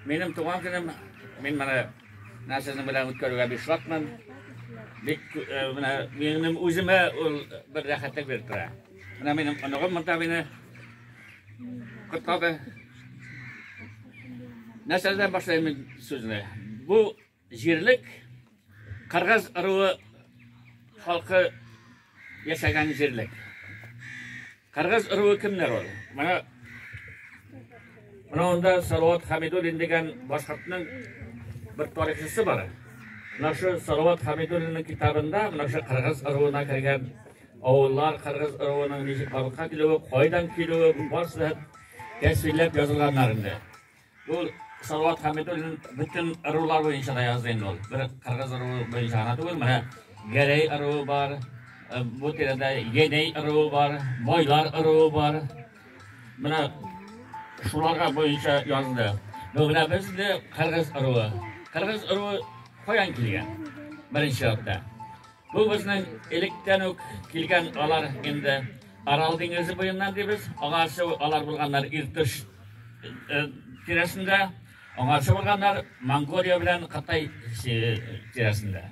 Минем туган көнем, мин менә менә сезнең белән үткәрүгә бик шатмын. Бик э, менә минем үземә ул бер рәхәтлек биреп тора. Менә минем оныгым монда мине котлады. Нәрсәдән башлыйм мин сүзне? Бу Җирлек Кыргыз ыруы халкы яшәгән җирлек. Кыргыз ыруы кемнәр ул? Менә Менә анда Салават Хамидуллин дигән башкортның бер тарихчысы бар. Менә шу Салават Хамидуллинның китабында менә шу кыргыз ыруына кергән авыллар, кыргыз ыруының ничек халыкка килүе, кайдан килүе, барысы да тәсвирләп язылганнар инде. Ул Салават Хәмидуллин бөтен ырулар буенча да язды инде ул. Бер кыргыз ыруы буенча гына түгел, менә Гәрәй ыруы бар, э, бу тирәдә Еней ыруы бар, Байлар ыруы бар. Менә шуларга буенча язды. Бүгенә без дә кыргыз ыруы. Кыргыз ыруы каян килгән? Беренче чиратта. Бу безнең электән үк килгән алар инде Арал диңгезе буеннан дибез. Аңа шул алар булганнар Иртыш э, тирәсендә, аңа шул булганнар Монголия белән Кытай э, тирәсендә.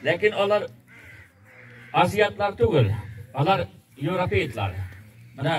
Ләкин алар азиатлар түгел, алар европейтлар. Менә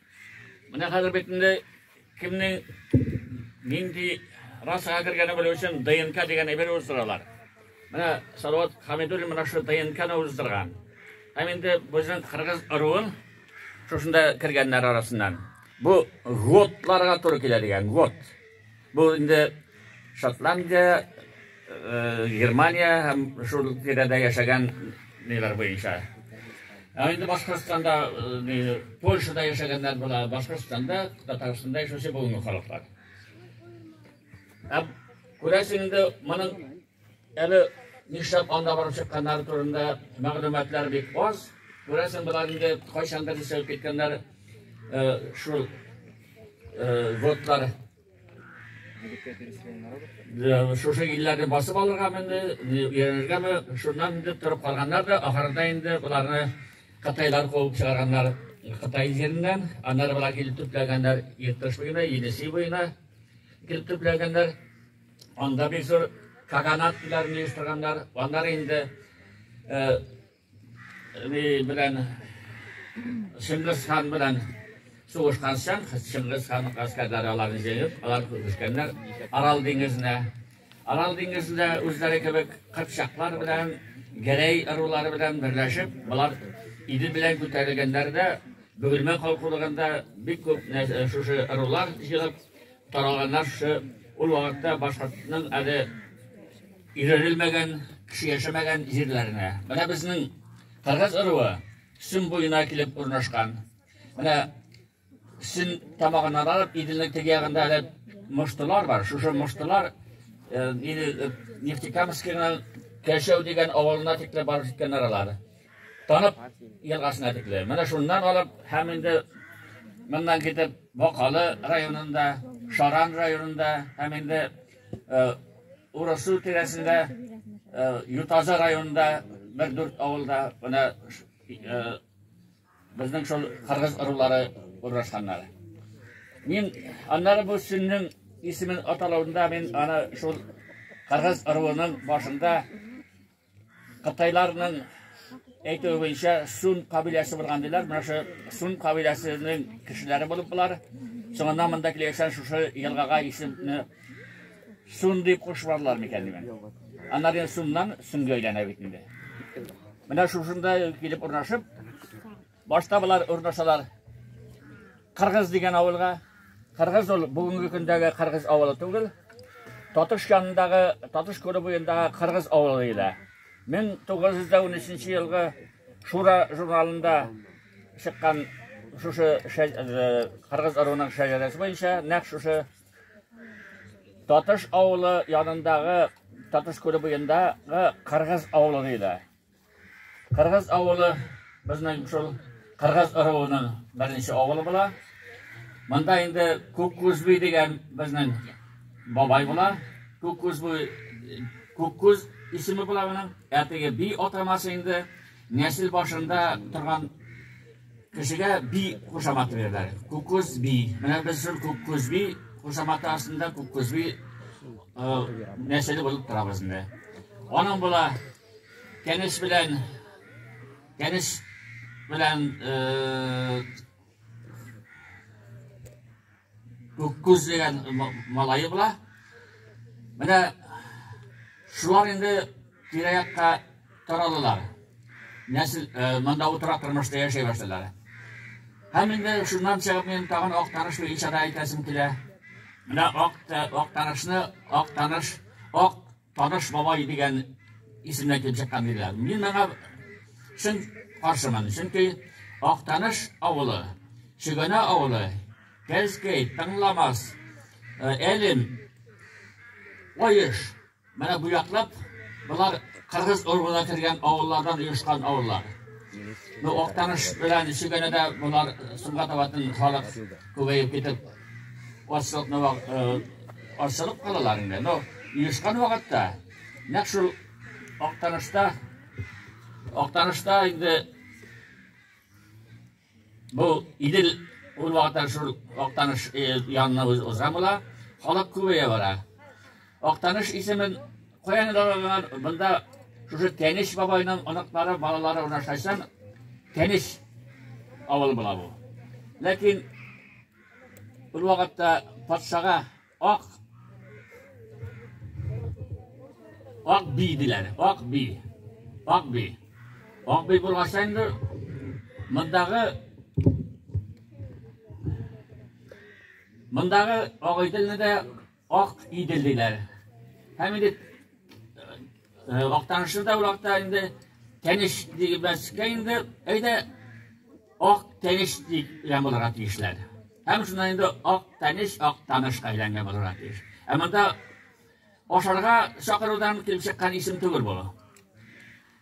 Менә хәзер бит инде кемнең нинди расага кергәне белү өчен ДНК дигән әйбер уздыралар. Менә Салават Хамидуллин менә шул ДНКны уздырган. Һәм инде безнең кыргыз ыруын шушында кергәннәр арасыннан. Бу готларга туры килә дигән гот. Бу инде Шотландия, Германия һәм шул тирәдә яшәгән ниләр буенча. Ә инде Башкортстанда, Польшада яшәгәннәр була, Башкортстанда, Татарстанда яшәүче бүгенге халыклар. Ә күрәсең инде моның Әле нишләп анда барып чыкканнары турында мәгълүматлар бик аз. Күрәсең, болар инде кайчандыр исәп киткәннәр шул вотлар шушы илләрне басып алырга менде, өйрәнергәме, шуннан инде торып калганнар да, ахырында инде боларны кытайлар куып чыгарганнар Кытай җиреннән, аннары болар килеп төпләгәннәр Иртыш буена, Енисей буена килеп төпләгәннәр. Анда бик зур каганат диләрен оештырганнар. Аннары инде ни белән Чингис хан белән сугышкан соң, Чингис хан гаскәрләре аларны җыеп, алар күчкәннәр Арал диңгезенә. Арал диңгезендә үзләре кебек кыпчаклар белән, гәрәй ырулары белән берләшеп, болар Идел белән күтәрелгәннәрдә, Бөгелмә калкулыгында бик күп шушы ырулар җыелып, Таралганнар шы, ул вакытта башкортның әле өйрәнелмәгән, кеше яшәмәгән җирләренә. Менә безнең кыргыз ыруы Сөн буена килеп урнашкан. Менә Сөн тамагыннан алып, Иделнең теге ягында әле мыштылар бар. Шушы мыштылар Нефтекамскиның Кәшәү дигән авылына тикле барып җиткәннәр алар. Танып елгасына тикле. Менә шуннан алып һәм инде моннан китеп Бакалы районында, Шаран районында һәм инде э, Урысу тирәсендә, э, Ютаза районында бер дүрт авылда менә э, безнең шул кыргыз ырулары урнашканнар. Мин аннары бу сүннең исемен аталуында мин аны шул кыргыз ыруының башында Кытайларның әйтүе буенча Сун кабиләсе булган диләр. Менә шу Сун кабиләсенең кешеләре булып булар. Соңыннан монда килгән шушы елгага исемне Сун дип кушмадылар микән димен. Аннары Суннан Сүнгә әйләнә бит инде. Менә шушында килеп урнашып, Башта болар урнашалар Кыргыз дигән авылга. Кыргыз ул бүгенге көндәге Кыргыз авылы түгел. Татыш янындагы, Татыш күле буендагы Кыргыз авылы диләр. 1913 елгы Шура журналында чыккан шушы э, Кыргыз ыруының шәҗәрәсе буенча нәкъ шушы Татыш авылы янындагы Татыш күле буендагы Кыргыз авылы диләр. Кыргыз авылы безнең шул Кыргыз ыруының беренче авылы була. Монда инде Күккүзби дигән безнең бабай була. Күккүзби Күккүз исеме була моның. Әтеге би атамасы инде нәсел башында торган кешегә би кушаматы бирәләр. Күккүз би. Менә без шул Күккүзби кушаматы астында Күккүзби нәселе булып торабыз инде. Аның була Кәнеш белән Кәнеш белән Күккүз дигән малайы була. Менә шулар инде тирә-якка таралалар. Нәсел э, монда утыра тормышта яшәй башлалар. Һәм инде шуннан чыгып мин тагын ак таныш буенча да әйтәсем килә. Менә ак э, ак танышны, ак таныш, ак Таныш бабай дигән исемнән килеп чыккан диләр. Мин моңа чын каршымын, чөнки Актаныш авылы, Чөгәнә авылы, Кәлскәй, Тыңламас, э, Әлем, Оеш, менә бу яклап болар кыргыз оруына кергән авыллардан оешкан авыллар. Ну, Актаныш белән Чөгәнәдә болар Сумгатаватын халык күбәеп китеп Ачлыкны ачлык калалар инде. Но юшкан вакытта нәкъ шул актанышта актанышта инде бу идел ул вакытта шул актаныш янына уза була. Халык күбәя бара. Актаныш исемен каян алганнар? Монда шушы Тәнеш бабайның оныклары, балалары урнашкан Тәнеш авылы була бу. Ләкин ул вакытта патшага ак ак би диләр, ак би. Ак би. Ак би булгач инде мондагы мондагы агыйделне дә Ак Идел диләр. Һәм инде Актанышы да вакытта инде тәнеш дигәнбәскә инде әйдә Ак тәнеш дигән булырга тиешләр. Һәм шуннан инде Ак тәнеш, Ак танышка әйләнгән булырга тиеш. Ә монда ашарга чакырудан килеп чыккан исем түгел бу.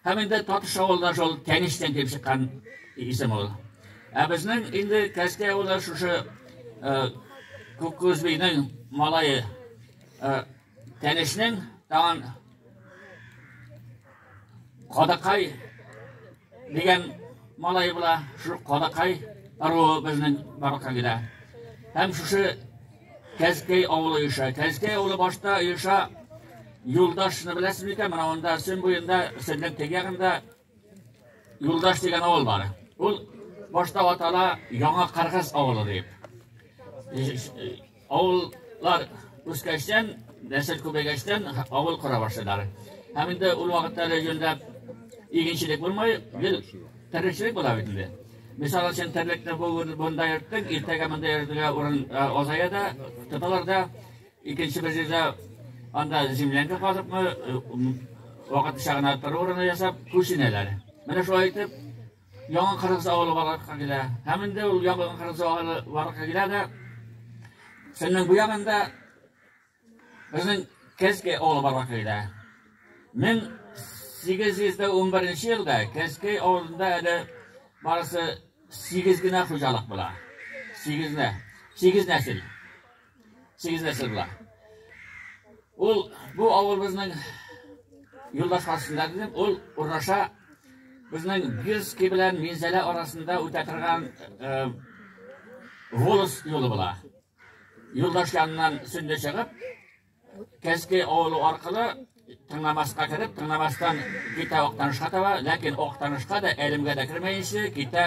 Һәм инде Татыш авылына шул Кәничтән килеп чыккан исем ул. Ә безнең инде Кәскә авылы шушы Күккүзбинең малае Кәничнең тагын Кадакай дигән малай була, шул Кадакай аруы безнең барлыкка килә. Һәм шушы Кәзкәй авылы оеша. Кәзкәй авылы башта оеша. Юлдашны беләсез микән? Менә анда Сөн буенда, Сөннең теге ягында Юлдаш дигән авыл бар. Ул башта атала Яңа Каргыз авылы дип. Авыллар үскәчтән, нәсел күбәйгәчтән авыл кора башладылар. Һәм инде ул вакытта регионда игенчелек булмай, гел тәрбиячелек була бит инде. Мисал өчен, терлекне бу монда йөрттең, иртәгә монда йөрергә урын азая да, тоталар да. Икенче бер җирдә анда землянка казыпмы, вакытлыча гына тору урыны ясап, күченәләр. Менә шулай итеп, яңа кыргыз авылы барлыкка килә. Һәм инде ул яңа кыргыз авылы барлыкка килә дә, Сөннең бу ягында Безнең Кәскәй авылы бар кайда. 1811 елда Кәскәй авылында әле барысы 8 генә хуҗалык була. 8 генә. 8 нәсел. 8 нәсел була. Ул бу авылыбызның юлдаш хасында дидем, ул урнаша безнең Бирский белән Минзәлә арасында үтә торган э, волос юлы була. Юлдаш янынан сүнде чыгып, Кәске авылы аркылы тыңламаска кереп, тыңламастан китә Актанышка таба, ләкин Актанышка да әлемгә дә кермәенче китә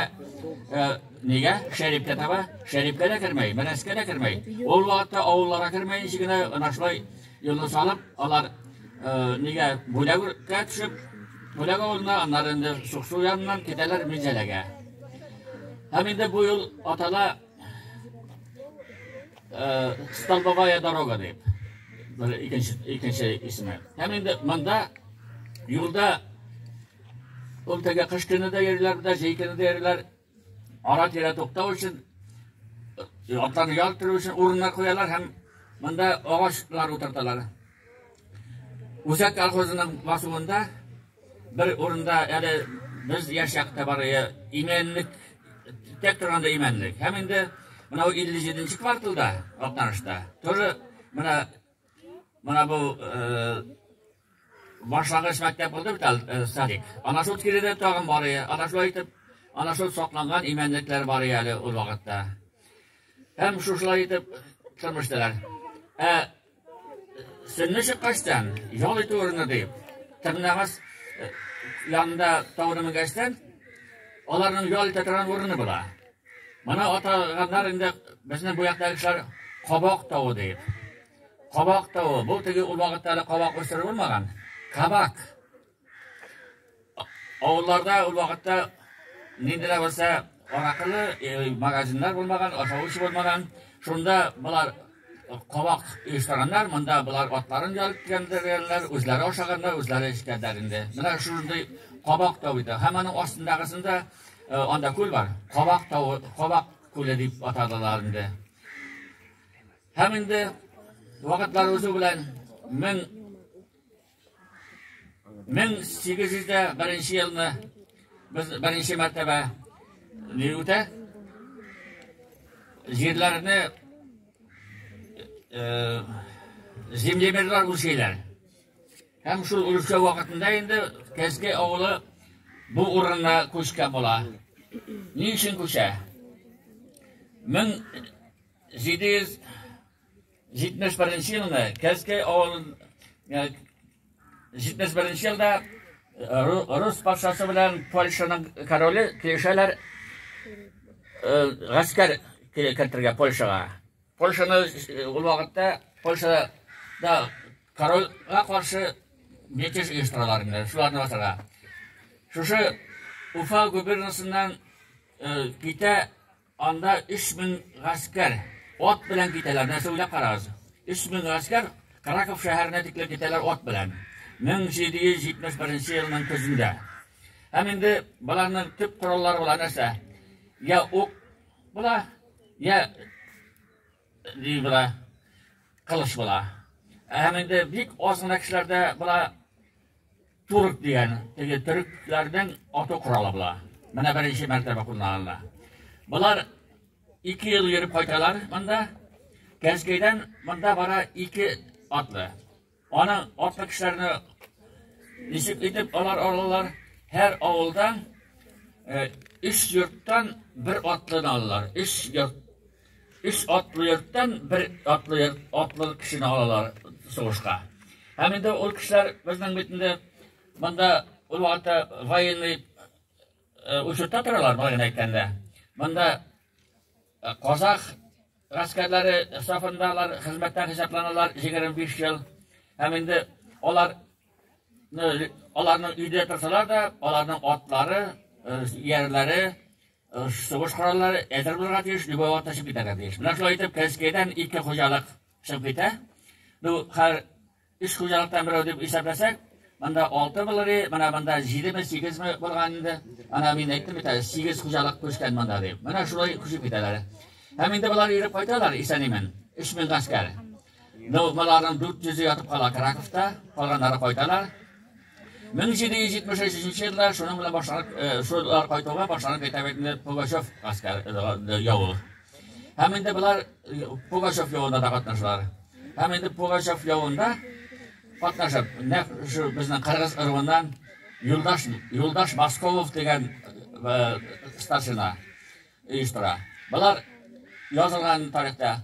э, нигә? Шәрипкә таба, Шәрипкә дә кермәй, Мәнәскә дә кермәй. Ул вакытта авылларга кермәенче генә ана шулай юлны салып, алар э, нигә бүләгә төшеп, бүләк авылына, аннары инде Суксу яныннан китәләр Минзәләгә. Һәм инде бу юл атала Э, Столбовая дорога дип. Бер икенче икенче исеме. Һәм инде монда юлда ул теге кыш көне дә йөриләр, дә җәй көне дә йөриләр. Ара тирә туктау өчен э, атларны ял итү өчен урыннар куялар һәм монда агачлар утырталар. Үзәк колхозының басуында Бер урында әле без яшь чакта бар иде, имәнлек, тек торганда имәнлек. Һәм инде мынау 57 нче кварталда, Актанышта, тоже менә менә бу э, башлангыч мәктәп булды бит әле э, садик. Ана шул тирәдә тагын бар иде. Ана шулай итеп, ана шул сакланган имәнлекләр бар иде әле ул вакытта. Һәм шушылай итеп тормыштылар. Ә Сөнне чыккачтан, ял итү урыны дип, тырнагас э, янында тауны менгәчтән, аларның ял итә торган урыны була. Моны атаганнар инде безнең бу яктагы кешеләр кабак тавы дип. Кабак тавы, бу теге ул вакытта әле кабак үстереп булмаган. Кабак. Авылларда ул вакытта нинди дә булса аракылы э, магазиннар булмаган, ашавыч булмаган. Шунда болар кабак оештырганнар, монда болар атларын ялып килгәннәр, үзләре ашаганнар, үзләре эчкәннәр инде. Менә шундый кабак тау иде. Һәм аның астындагысында э, анда күл бар. Кабак тау, кабак күле дип атадылар инде. Һәм инде вакытлар узу белән 1000 1801 елны без беренче мәртәбә ни үтә? Җирләрне землемерлар үлчиләр. Һәм шул үлчәү вакытында инде Кәзге авылы бу урынна күчкә була. Ни өчен күчә? 1700 71 нче елны Кәзкәй авылын 71 нче елда рус патшасы белән Польшаның короле килешәләр гаскәр кертергә Польшага. Польшаны ул вакытта Польшада корольга каршы мятеж оештыралар инде, шуларны басарга. Шушы Уфа губернасыннан китә Анда өч мең гаскәр ат белән китәләр. Нәрсә уйлап карагыз. Өч мең гаскәр Краков шәһәренә тиклем китәләр ат белән. 1771 елның көзендә. Һәм инде боларның төп кораллары була нәрсә? Я ук була, я Ди була, кылыч була. Ә һәм инде бик аз гына кешеләрдә була турк дигән, теге төрекләрнең ату коралы була. Менә беренче мәртәбә кулланыла. Болар ике ел йөреп кайталар монда. Кәнскәйдән монда бара ике атлы. Аны арткы кешеләрне ничек итеп алар алалар? Һәр авылда өч йорттан бер атлыны алалар. Өч йорт өч атлы йорттан бер атлы йорт атлы кешене алалар сугышка. Һәм инде ул кешеләр безнең бит инде монда ул вакытта военный учетта торалар, былай гына әйткәндә. Монда казах Гаскәрләре сафында алар хезмәттән хисапланалар 25 ел. Һәм инде алар аларның өйдә торсалар да, аларның атлары, иярләре, сугыш кораллары әзер булырга тиеш, любой вакытта чыгып китәргә тиеш. Менә шулай итеп, Кәскәйдән ике хуҗалык чыгып китә. Ну, хәзер Өч хуҗалыктан берәү дип исәпләсәк, монда алты булыр иде, менә монда җидеме, сигезме булган инде. Ана мин әйттем бит әле, сигез хуҗалык күчкән монда дип. Менә шулай күчеп китәләр. Һәм инде болар иреп кайталар исән-имин. Өч мең гаскәр. Ну, боларның дүрт йөзе ятып кала Краковта, калганнары кайталар. 1773 елда шуның белән башланып, э, шулар кайтуга башланып китә бит инде Пугачев гаскәр э, явы. Һәм инде болар Пугачев явында да катнашалар. Һәм инде Пугачев явында катнашып, нәк шу безнең кыргыз ырвыннан Юлдаш Юлдаш Басковов дигән э, старшина. оештыра. Болар язылган тарихта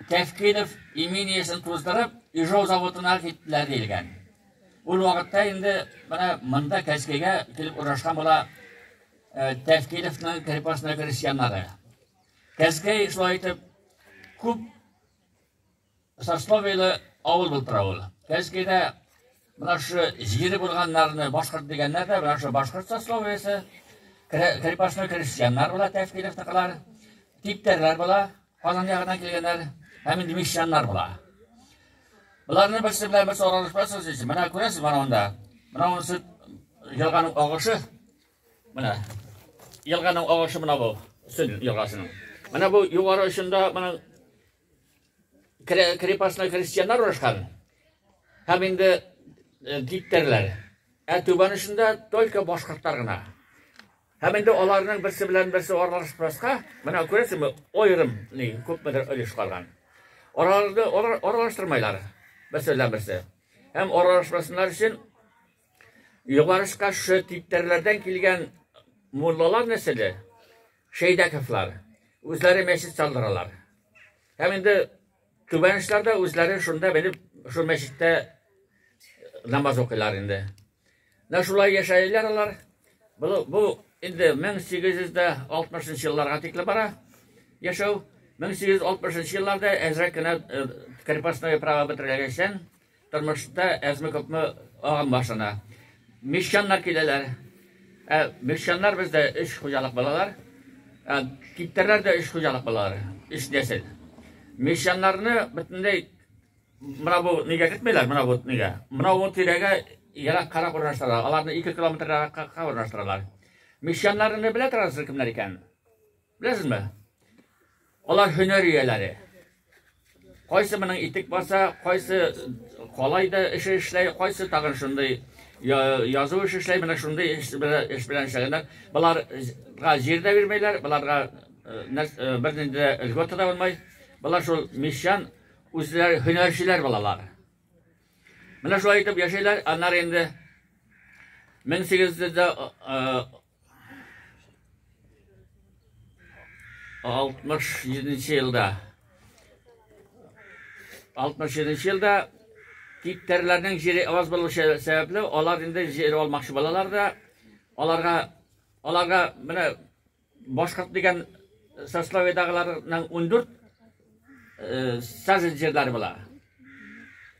Тәфкилов имениесен туздырып, Ижау заводына киттеләр диелгән. Ул вакытта инде менә монда Кәскәйгә килеп урнашкан була э, Тәфкиловның крепостной крестьяннары. Кәскәй шулай итеп күп Сосновийлы авыл булып тора ул. Кәнскәйдә менә шушы җире булганнарны башкорт дигәннәр дә, менә шушы башкорт сословиесе, крепостной крестьяннар була, Тәфкилевныкылар, типтәрләр була, Казан ягыннан килгәннәр, һәм инде мещаннар була. Боларны берсе белән берсе аралашмасыз өчен, менә күрәсез менә монда. Менә монысы елганың агышы. Менә елганың агышы менә бу, Сөн елгасының. Менә бу югары очында менә крепостной крестьяннар орышкан һәм инде типтәрләр ә түбән очында только башкортлар гына һәм инде аларның берсе белән берсе аралашмаска менә күрәсеңме аерым ни күпмедер өлеш калган араларны аралаштырмайлар берсе белән берсе һәм аралашмасыннар өчен Югарыш каршы типтәрләрдән килгән муллалар нәселе, Шәйдәковлар, үзләре мәчет салдыралар. Һәм инде түбәнешләр дә үзләре шунда белеп, шул мәчеттә э, намаз укыйлар инде. Менә шулай яшәйләр алар. Бу инде 1860 елларга тикле бара яшәү. 1860 елларда әзрәк кенә э, крепостное право бетерелгәнчән Тормышта әзме күпме агым башына. Мещаннар киләләр. Ә мещаннар бездә өч хуҗалык балалар. Ә киптерләр дә өч хуҗалык балалар. Өч нәсел. Мещаннарны бөтенләй мына бу нигә кертмиләр, мына бу нигә. Мына бу тирәгә ерак карак урнаштыралар. Аларны 2 километр яракка урнаштыралар. Мещаннарны белә торасыз кемнәр икән? Беләсезме? Алар һөнәр ияләре. Кайсы моның итек баса, кайсы калай да эше эшләй, кайсы тагын шундый язу эше эшләй, менә шундый эш белән шөгыльләнә. Боларга җир дә бирмәйләр, боларга бернинди дә льгота да булмай. Болар шул мещан үзләре һөнәрчеләр балалар. Менә шулай итеп яшәйләр, аннары инде 1800 67-нче елда 67-нче елда типтәрләрнең җире аз булу сәбәпле, алар инде җир алмакчы балалар да аларга аларга менә башкорт дигән сословиедагыларның 14 сазен җирләре була.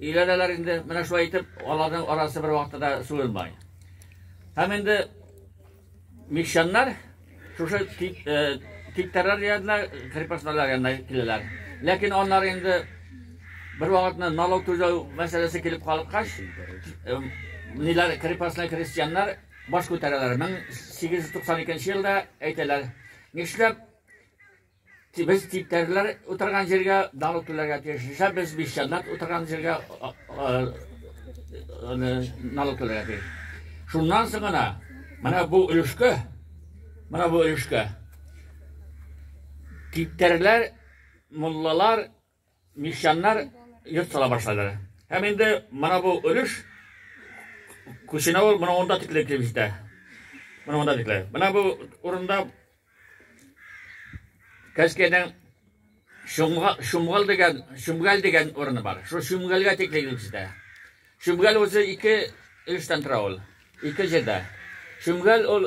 Өйләнәләр инде, менә шулай итеп, аларның арасы бер вакытта да суырылмай. Һәм инде мещаннар шушы типтәрләр янына, крепостнолар янына киләләр. Ләкин аннар инде бер вакытны налог түләү мәсьәләсе килеп калыккач, ниләр крепостный крестьяннар баш күтәрәләр. 1892 елда әйтәләр, нишләп Без типтәрләр утырган җиргә далу түләргә тиешчә, без бишҗаннат утырган җиргә налог түләргә тиеш. Шуннан соң гына менә бу өлешкә, менә бу өлешкә типтәрләр, муллалар Мещаннар йорт сала башлады. Һәм инде мына бу өлеш күченә ул мына онда тикле килеп җитә. Мына онда тикле. Мына бу урында Кәскәйнең Шумгал дигән, Шумгал дигән урыны бар. Шул Шумгалга тикле килеп җитә. Шумгал үзе ике өлештән тора ул. Ике җирдә. Шумгал ул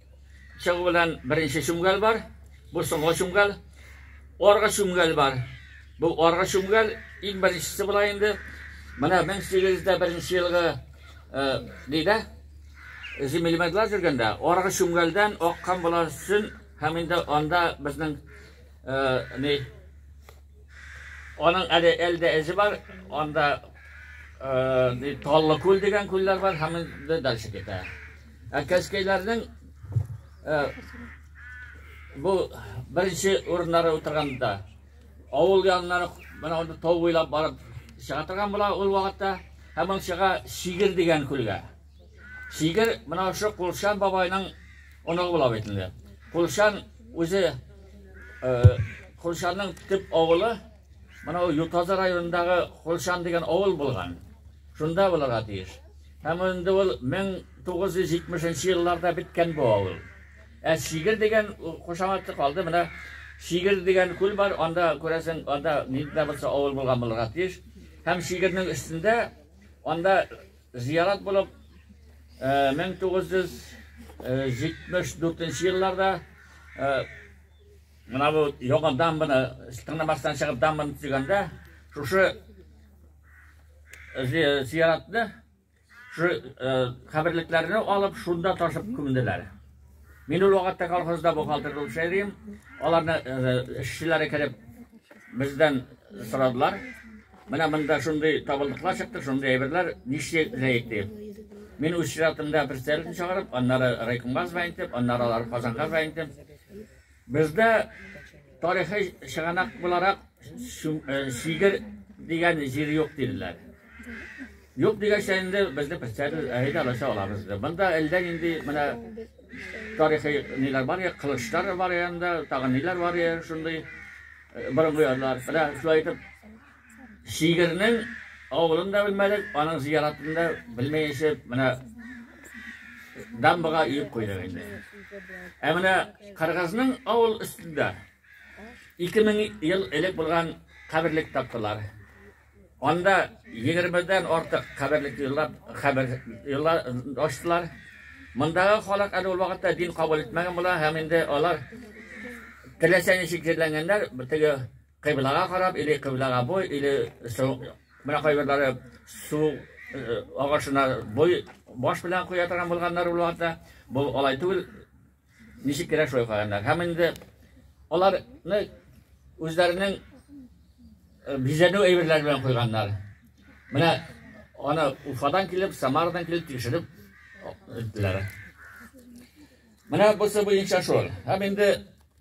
Чыгу белән беренче чүмгәл бар. Бу соңгы чүмгәл. Аргы чүмгәл бар. Бу аргы чүмгәл иң беренчесе була инде. Менә 1801 елгы дидә земельмедлар жүргәндә аргы чүмгәлдән аккан була сүн һәм инде анда безнең ни аның әле әлдә эзе бар, анда Таллы күл дигән күлләр бар һәм инде дальше китә. Ә кәскәйләрнең бу беренче урыннары утырганда авыл яннары менә анда тау буйлап барып чыга торган була ул вакытта һәм ул чыга Шигер дигән күлгә. Шигер менә шушы Кулшан бабайның оныгы була бит инде. Кулшан үзе э, Кулшанның төп авылы менә ул Ютазы районындагы Кулшан дигән авыл булган. Шунда булырга тиеш. Һәм инде ул 1970 нче елларда беткән бу авыл. Ә Шигер дигән кушаматы калды. Менә Шигер дигән күл бар, анда күрәсең, анда нидә булса авыл булган булырга тиеш. Һәм Шигернең өстендә анда зиярат булып 1974 э, елларда э, мына бу яңа дамбаны тыңламастан чыгып дамбаны төзегәндә шушы зияратны шу каберлекләрне алып шунда ташып күмделәр мин ул вакытта колхозда бухгалтер булып эшләдем аларны эшчеләре кереп бездән сорадылар менә монда шундый табылдыклар чыкты шундый әйберләр ничек ләек дип мин үз чиратымда председателен чыгарып аннары райкомга звонить итеп аннары алар казанга звонить итеп Бездә тарихи чыганак буларак Сигер дигән җир юк диләр. Юк дигәнчә инде безне представитель әйдә алача алабыз. Монда әлдә нинди менә тарихи ниләр бар я, кылычлар бар янда, тагын ниләр бар я, шундый борынгы ярлар. Менә шулай итеп Шигырьнең авылын да белмәдек, аның зияратын да белмәенчә менә дамбага өеп куйдык инде. Ә менә Кыргызның авыл өстендә 2000 ел элек булган каберлек таптылар. Анда 20-дән артык каберлек юллап, кабер юлла ачтылар. Мондагы халык әле ул вакытта дин кабул итмәгән була һәм инде алар теләсә ничек җирләнгәннәр, битеге Кыйблага карап, или кыйблага буй, или су, менә кайберләре су агашына буй баш белән куя торган булганнар булар да, бу алай түгел. Ничек кирәк шулай куйганнар. Һәм инде аларны үзләренең бизәнү әйберләре белән куйганнар. Менә аны Уфадан килеп, Самарадан килеп тикшереп иттеләр. Менә бусы буенча шул. Һәм инде